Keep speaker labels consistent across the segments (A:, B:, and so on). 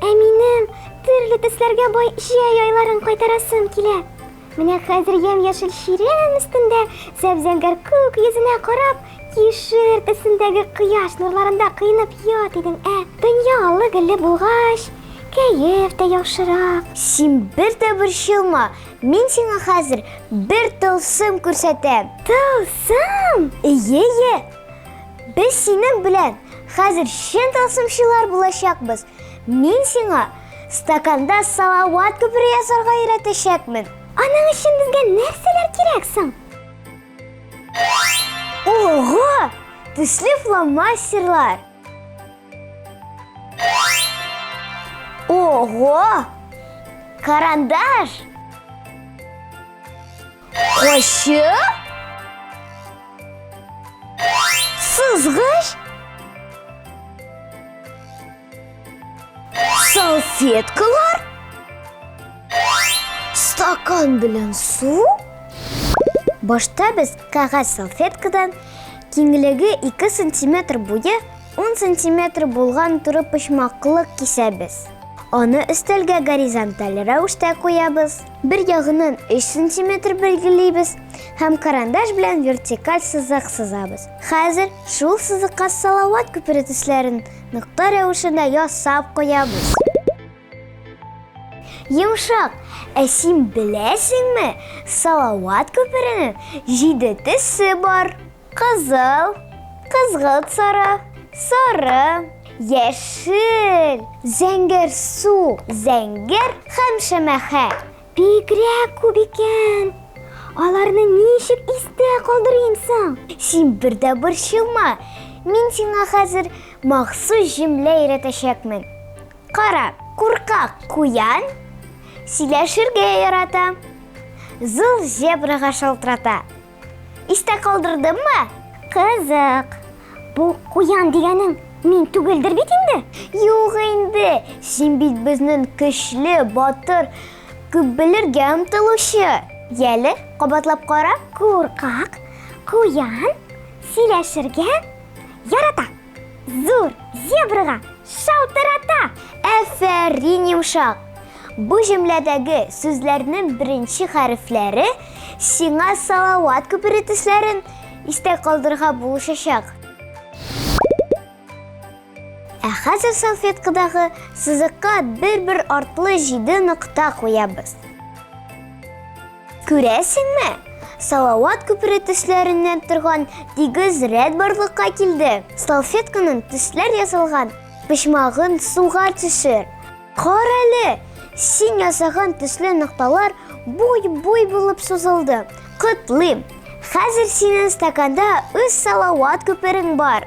A: Ә минем төрле төсләргә бай җәй айларын кайтарасым килә. Менә хәзер ямь-яшел чирәм өстендә зәп-зәңгәр күк йөзенә карап, кишер төсендәге кояш нурларында кыйнып ят идем, ә дөнья аллы-гөлле булгач, кәеф тә яхшырак. Син бер
B: дә борчылма, мин сиңа хәзер бер тылсым күрсәтәм. Тылсым?
A: Ие-ие,
B: Без синең белән хәзер чын тылсымчылар булачакбыз. Мин сиңа стаканда салават күпере ясарга өйрәтәчәкмен. Аның өчен
A: безгә нәрсәләр кирәк соң?
B: Ого! Төсле фломастерлар! Ого! Карандаш! Кочы? Сызгыч? Салфеткалар? Стакан белән су? Башта без кәгазь салфеткадан киңлеге 2 сантиметр буе 10 сантиметр булган туры почмаклык кисәбез. Аны өстәлгә горизонталь рәвештә куябыз. Бер ягыннан 3 сантиметр билгелейбез һәм карандаш белән вертикаль сызык сызабыз. Хәзер шул сызыкка салават күпере төсләрен нокта рәвешендә ясап куябыз. Йомшак, ә син беләсеңме, салават күперенең җиде төсе бар. Кызыл, кызгылт сары, сары, яшел, зәңгәр су, зәңгәр һәм шәмәхә. Бигрәк
A: күп икән. Аларны ничек истә калдырыйм соң? Син бер дә
B: борчылма. Мин сиңа хәзер махсус җөмлә өйрәтәчәкмен. Кара, куркак куян сөйләшергә ярата. Зыл зебрага шалтырата. Истә калдырдыммы? Кызык.
A: Бу куян дигәнең мин түгелдер бит инде? Юк инде.
B: Син бит безнең көчле, батыр, күп белергә омтылучы. Яле, кабатлап кара. Куркак
A: куян сөйләшергә ярата. Зур зебрага шалтырата! Әфәрин
B: йомшак! Бу җөмләдәге сүзләрнең беренче хәрефләре сиңа салават күпере төсләрен истә калдырырга булышачак. Ә хәзер салфеткадагы сызыкка бер-бер артлы җиде нокта куябыз. Күрәсеңме? Салават күпере төсләреннән торган тигез рәт барлыкка килде. Салфетканың төсләр ясалган почмагын суга төшер. Кар әле! Син ясаган төсле нокталар буй-буй булып сузылды. Котлыйм! Хәзер синең стаканда үз салават күперең бар.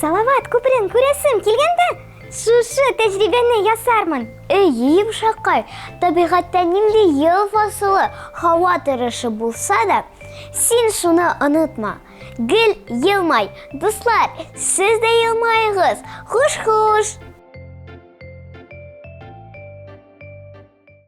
A: Салават күперен күрәсем килгәндә, шушы тәҗрибәне ясармын. Әйе, йомшакай,
B: табигатьтә нинди ел фасылы, һава торышы булса да, син шуны онытма. Гел елмай, дуслар, сез дә елмаегыз. Хуш-хуш!